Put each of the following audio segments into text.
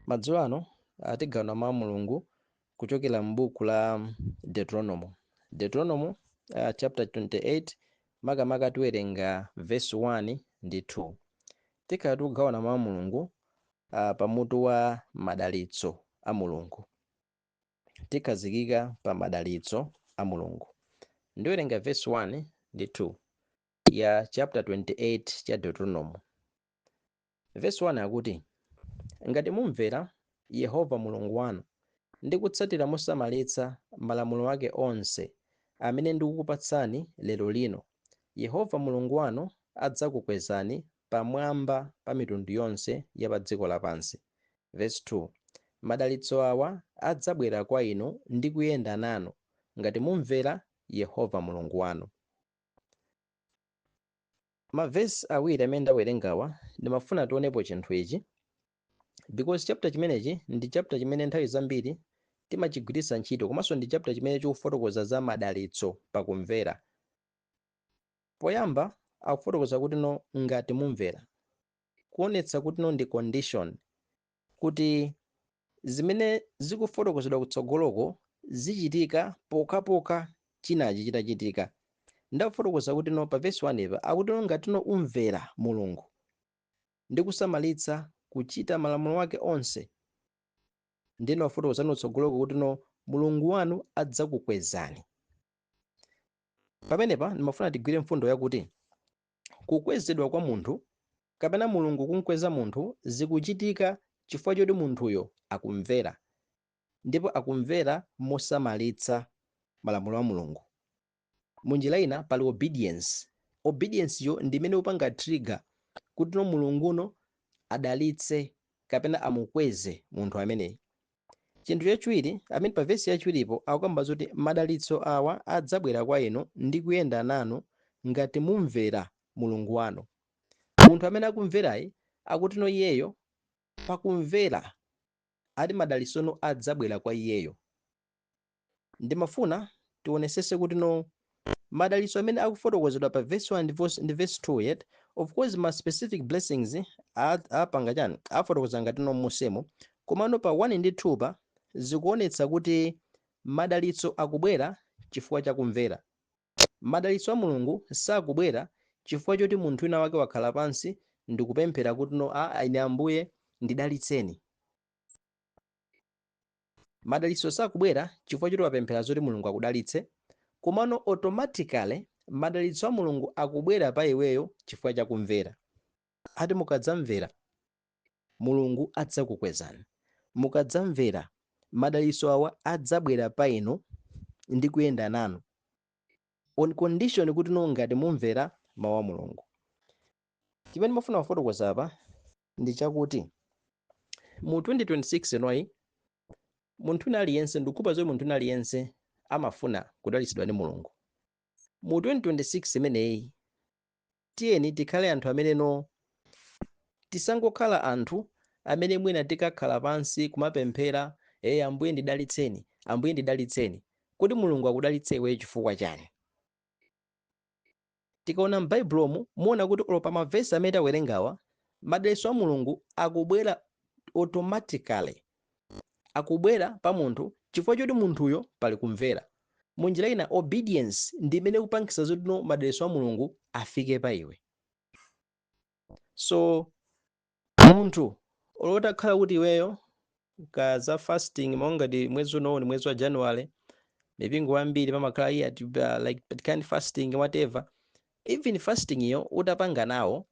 Madzulo ano tigawana Mawu a Mulungu kuchokera m'buku la Deuteronomo. Deuteronomo uh, chapter 28 makamaka tiwerenga verse 1 ndi 2. Tikhala tikugawana Mawu a Mulungu uh, pa mutu wa madalitso a Mulungu. Tikhazikika pa madalitso a Mulungu. Ndiwerenga verse 1 ndi 2 ya chapter 28 cha Deuteronomo. Vesi 1 akuti, Ngati mumvera Yehova Mulungu wanu ndi kutsatira mosamalitsa malamulo ake onse amene ndikukupatsani lerolino, Yehova Mulungu wanu adzakukwezani pamwamba pa mitundu yonse ya padziko lapansi. Vesi 2, Madalitso awa adzabwera kwa inu ndi kuyenda nanu ngati mumvera Yehova Mulungu wanu. Ma verse awiri amene ndawerengawa ndimafuna tionepo chinthu ichi because chapter chimenechi ndi chapter chimene nthawi zambiri timachigwiritsa ntchito komanso ndi chapter chimene chikufotokoza za madalitso pakumvera. Poyamba akufotokoza kuti no ngati mumvera kuonetsa kuti no ndi condition kuti zimene zikufotokozedwa kutsogoloko zichitika pokhapokha chinachi chitachitika nde akufotokoza kuti no pa vesi 1 pa akuti no ngati no umvera mulungu ndi kusamalitsa kuchita malamulo wake onse nde wafotokozano kutsogoloko kuti no mulungu wanu adzakukwezani pamenepa ndimafuna tigwire mfundo yakuti kukwezedwa kwa munthu kapena Mulungu kumkweza munthu zikuchitika chifukwa choti munthuyo akumvera ndipo akumvera mosamalitsa malamulo a Mulungu. Munjira ina pali obedience. Obedience yo ndi imene ikupanga trigger kutino Mulunguno adalitse kapena amukweze munthu ameneyi. Chinthu chachiwiri, amene pa vesi yachiwiripo akukamba zoti madalitso awa adzabwera kwa inu ndi kuyenda nanu ngati mumvera Mulungu wanu. Munthu amene akumverayi akutino iyeyo pakumvera ati madalitsono adzabwera kwa iyeyo. ndimafuna tionesese kuti no madalitso amene akufotokozedwa pa verse 1 ndi verse- ndi verse 2 ya of course ma specific blessings a- apanga chani afotokoza ngati no mmunsimo komano pa 1 ndi 2 pa zikuonetsa kuti madalitso akubwera chifukwa cha kumvera madalitso a mulungu sakubwera chifukwa choti munthu wina wake wakhala pansi ndikupemphera kuti no a ine ambuye ndidalitseni Madalitso sakubwera chifukwa choti wapemphera zoti Mulungu akudalitse, komano automatically madalitso a Mulungu akubwera pa iweyo chifukwa cha kumvera. Ati mukadzamvera, Mulungu adzakukwezani. Mukadzamvera, madalitso awa adzabwera pa inu ndi kuyenda nanu on condition kuti no ngati mumvera mawu a Mulungu. chimene ndimafuna kufotokoza apa ndi chakuti mu 2026 inoyi munthu wina aliyense ndikukhulupirira zoti munthu wina aliyense amafuna kudalitsidwa ndi mulungu mu 2026 imeneyi tiyeni tikhale anthu amene no tisangokhala anthu amene mwina tikakhala pansi kumapemphera e ambuye ndidalitseni ambuye ndidalitseni kodi mulungu akudalitse iweyo chifukwa chani Tikaona m'Baibulomu, muona kuti olo pa mavesi amene tawerengawa, madalitso a Mulungu akubwera automatically. Akubwera pa munthu chifukwa choti munthuyo pali kumvera. Mu njira ina, obedience ndi imene ikupangitsa zoti no madalitso a Mulungu afike pa iwe. So, Munthu olo utakhala kuti iweyo ka za fasting monga ngati mwezi unowu ndi mwezi wa January mipingo wambiri pamakhala iya ti- uh, like but kind fasting whatever even fastingyo utapanga nawo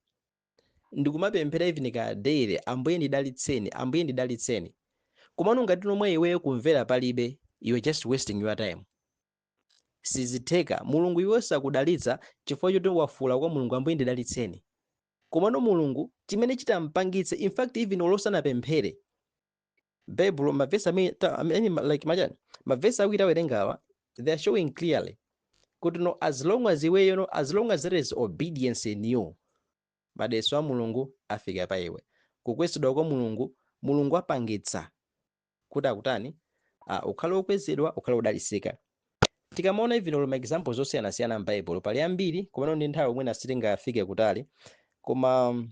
ndikumapemphera even ka daily ambuye ndidalitseni ambuye ndidalitseni komano ngati no mwa iweyo kumvera palibe you are just wasting your time sizitheka mulungu iweyo sakudalitsa chifukwa choti wafuula kwa mulungu ambuye ndidalitseni Komano Mulungu chimene chitampangitse in fact even olo usanapemphere Baibulo mavesi amene ta- I mean, ma- like machani mavesi awiri awerengawa they are showing clearly kuti no as long as iweyo no as long as there is obedience in you madalitso a Mulungu afika pa iwe kukwezedwa kwa Mulungu Mulungu apangitsa kuti akutani a ukhale okwezedwa ukhale odalitsika tikamaona even olo ma examples osiyanasiyana m'baibulo pali ambiri komano ndi nthawi mwina sitingafike kutali koma um,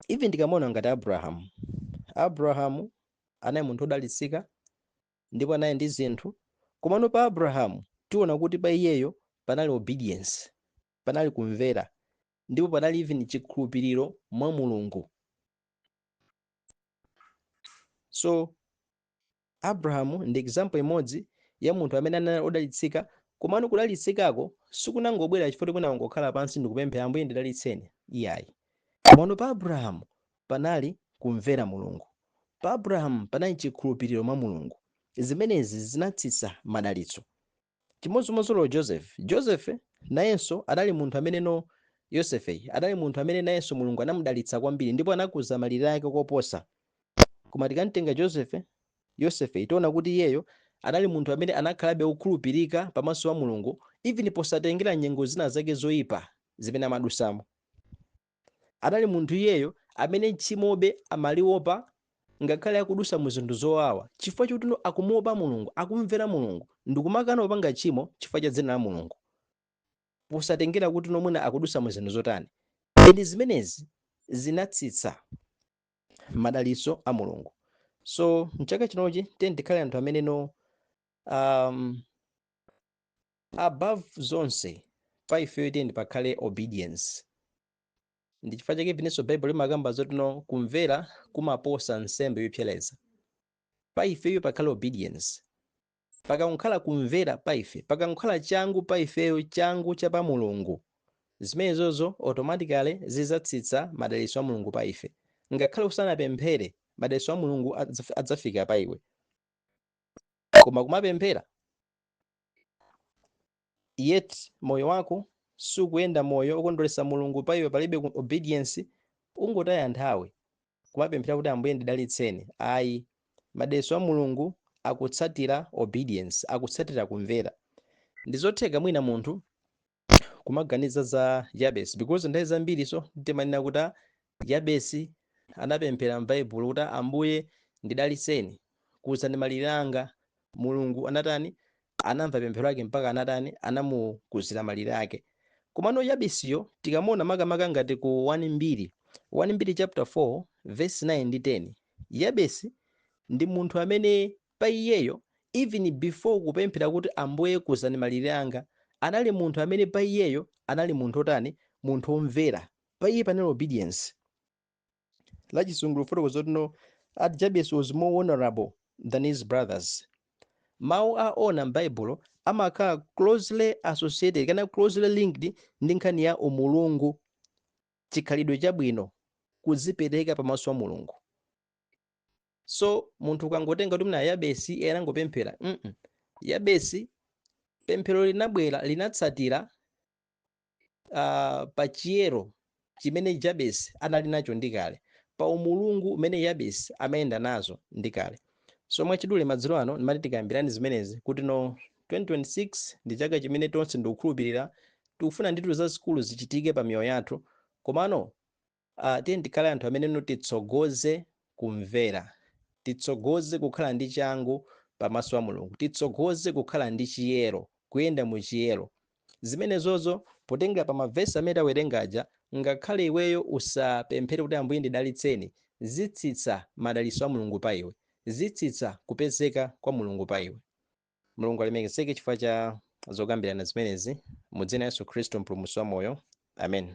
even tikamaona ngati abrahamu abrahamu anali munthu odalitsika ndipo anali ndi zinthu komano pa abrahamu tiona kuti pa iyeyo panali obedience panali kumvera ndipo panali even chikhulupiriro mwa mulungu so abrahamu ndi example imodzi ya munthu amene anali odalitsika komano kudalitsikako sikunangobwera chifukwa choti anangokhala pansi ndikupemphera ambuye ndidalitseni iyayi komano pa abrahamu panali kumvera mulungu pa abrahamu panali chikhulupiriro mwa mulungu zimenezi zinatsitsa madalitso Chimodzimodzinso Joseph. Joseph nayenso anali munthu ameneno Yosefe anali munthu amene nayenso Mulungu anamudalitsa kwambiri ndipo anakuza malire ake koposa. Koma tikamtenga Joseph, Yosefe tiona kuti iyeyo anali munthu amene anakhalabe wokhulupirika pamaso pa Mulungu even posatengera nyengo zina zake zoipa zimene amadusamo. Anali munthu iyeyo amene tchimobe amaliopa ngakhale akudusa mu zinthu zowawa chifukwa chotino akumuopa Mulungu, akumvera Mulungu ndikumakana kupanga tchimo chifukwa cha dzina la Mulungu posatengera kutino mwina akudusa mu zinthu zotani and zimenezi zinatsitsa madalitso a Mulungu. So mchaka chinochi tiyeni tikhale anthu ameneno umm. above zonse pa ifeyo tiyeni pakhale obedience ndi chifukwa chake penanso baibulo limakamba zotino kumvera kumaposa nsembe yopsereza pa ifeyo pakhale obedience pakankhala kumvera pa ife pakankhala changu pa ifeyo changu cha pa mulungu zimenezozo automatically zizatsitsa madalitso a mulungu pa ife ngakhale usanapemphere madalitso a mulungu adzaf- adzafika pa iwe koma kumapemphera yet moyo wako sukuyenda moyo okondweretsa mulungu pa iwe palibe ku- obedience ukungotaya nthawi kumapemphera kuti ambuye ndidalitseni ayi madalitso a mulungu akutsatira obedience akutsatira kumvera ndizotheka mwina munthu kumaganiza za yabesi because nthawi zambirinso timanena kuti "Ah, yabesi anapemphera m'baibulo kuti "Ah, ambuye ndidaliseni kuza ndi malire anga mulungu anatani anamva pemphero lake mpaka anatani anamukuzira malire ake komano yabesiyo tikamuona makamaka ngati ku 1 mbiri 1 mbiri chapter 4 verse 9 ndi 10 yabesi ndi munthu amene Pa iyeyo, even before kupemphera kuti Ambuye kuzani malire anga, anali munthu amene pa iyeyo anali munthu otani, munthu omvera, pa iye panali obedience. La chizungu likufotokoza kutino that Jabes was more honorable than his brothers. Mau a honor m'Baibulo amakhala closely associated kapena closely linked ndi nkhani ya umulungu, chikhalidwe chabwino, kudzipereka pamaso pa Mulungu. so munthu ukangotenga kuti mwina yabesi iye anangopemphera mm yabesi pemphero linabwera linatsatira uh, pa chiyero chimene jabesi anali nacho ndi kale pa umulungu umene yabesi amayenda nazo ndi kale so mwachidule madzulo ano ndimati tikambirani zimenezi kutino 2026 ndi chaka chimene tonse ndikukhulupirira tikufuna ndithu zazikulu zichitike pa miyoyo yathu komano Uh, tiyeni tikhale anthu amene no titsogoze kumvera, titsogoze kukhala ndi changu pamaso a Mulungu, titsogoze kukhala ndi chiyero, kuyenda mu chiyero. Zimenezozo potengera pa mavesi amene tawerenga aja, ngakhale iweyo usapemphere kuti Ambuye ndidalitseni, zitsitsa madalitso a Mulungu pa iwe, zitsitsa kupezeka kwa Mulungu pa iwe. Mulungu alemekezeke chifukwa cha zokambirana zimenezi mu dzina la Yesu Khristu mpulumutsi wa moyo. Amen.